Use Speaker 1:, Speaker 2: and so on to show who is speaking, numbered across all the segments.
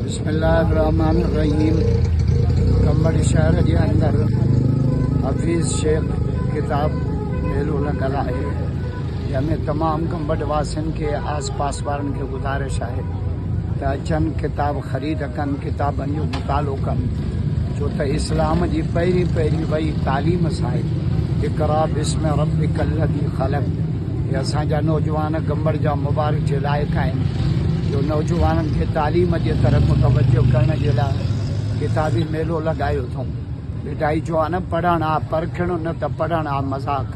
Speaker 1: بسم الله الرحمن الرحيم
Speaker 2: ڪمر شهر جي اندر حفيظ شيخ ڪتاب ميلو لڳل آهي جنهن ۾ تمام ڪمبر واسين کي آس پاس وارن کي گذارش آهي ته اچن ڪتاب خريد ڪن ڪتابن جو مطالعو ڪن ڇو ته اسلام جي پهرين پهرين وئي تعليم سائي اقرا بسم ربك الذي خلق ۽ اسان جا نوجوان گمبڙ جا مبارڪ جي لائق آهن جو نوجوانن کي تعليم جي طرف متوجه ڪرڻ جي لاء ڪتابي ميلو لڳايو اٿئون ڀٽائي چيو آهي نه پڙهڻ آ پرکڻ نه ته پڙهڻ آ مذاق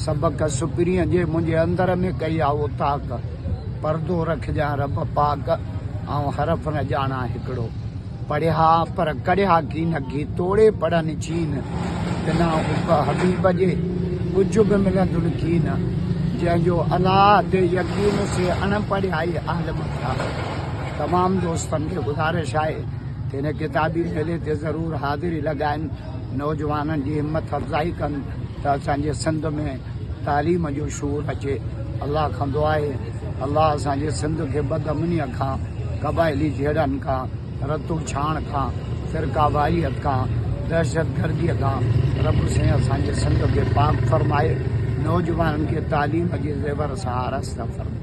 Speaker 2: سبق سپرينء جي منهنجي اندر ۾ ڪئي آ اوطاق پردو رکجان رب پاڪ آئون حرف نه ڄاڻان هڪڙو. پڙهيا پر ڪڙهيا گي نه گي توڙي پڙهن چين بنا حب حبيب جي ڪجهه به ملندن ڪين جنهن جو الله تي يقين سي اڻ پڙهيائي اهل مٿيا تمام دوستن کي گذارش آهي ته هن ڪتابي ميلي تي ضرور حاضري لڳائن نوجوانن جي همٿ افزائي ڪن ته اسان جي سنڌ ۾ تعليم جو شعور اچي الله کان دعا آهي الله اسان جي سنڌ کي بد امنيء کان قبائلي جهيڙن کان رتو ڇاڻ کان فرقه واريت کان دهشت گردي کان رب سائين اسان جي سنڌ کي پاڪ فرمائي نوجوانن کي تعليم جي زيور سان آراسته فرمائي.